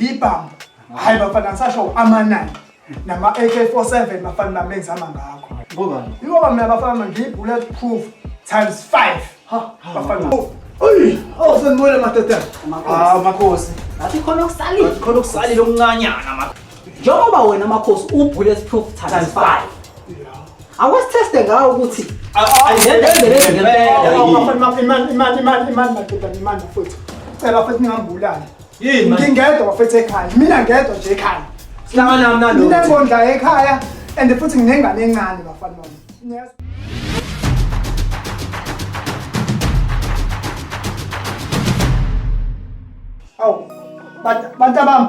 yibhamu hayi bafana ngisasho amanani nama-ak47 bafana bamenzama ngakho yingoba mina bafana ngiyi-bullet proof times five bafana Oh, sengibuyele madoda. Ah, makhosi. Ngathi khona okusalile. Ngathi khona okusalile okuncanyana makhosi. Njengoba wena makhosi u-bullet proof times five. awasitheste ngawo ukuthi imani futhi cela futhi ningambulali ngingedwa bafethu ekhaya mina ngedwa nje ekhaya minengondla ekhaya and futhi nginengane encane bafana bami awu bantabami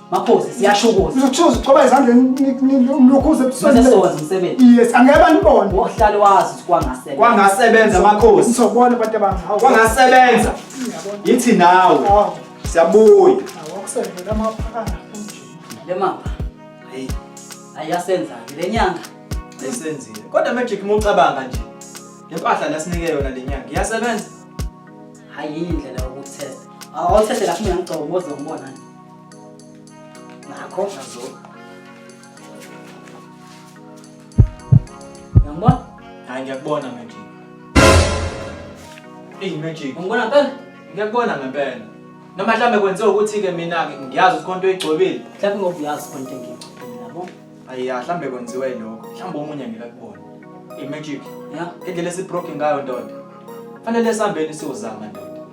Makhosi siyasho ukuthi ngizothuza uqoba ezandleni ngilukhuze ebusweni. Bese sowazi umsebenzi. Yes, angeke banibone. Wohlale wazi ukuthi kwangasebenza. Kwangasebenza makhosi. Ngizobona abantu abami. Kwangasebenza. Yithi nawe. Siyabuya. Awakusenzela amaphakana futhi. Le mapha. Hey. Ayasenza le nyanga. Ayisenzile. Kodwa magic mucabanga nje. Le mpahla lasinike yona le nyanga. Iyasebenza. Hayi indlela yokuthesta. Awuthethela kimi ngicobozwe ngibona nje. Nakho nazo. Ngiyambona? Hayi ngiyakubona manje. Eyi magic. Ngibona ngempela? Ngiyakubona ngempela. Noma mhlawumbe kwenziwa ukuthi-ke mina-ke ngiyazi ukuthi konto oyigcobile. Mhlawumbe ngoba uyazi konto engiyigcobile yabo. Ayi ya mhlawumbe kwenziwa yilokho. Mhlawumbe omunye ngeke akubone. Eyi magic. Ya. Indlela esibroke ngayo ndoda. Fanele sihambeni siyozama ndoda.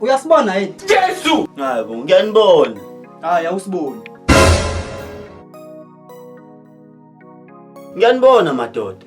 Uyasibona yini? Jesu! Hayi bo, ngiyanibona. Hayi awusiboni. Ngiyanibona madoda.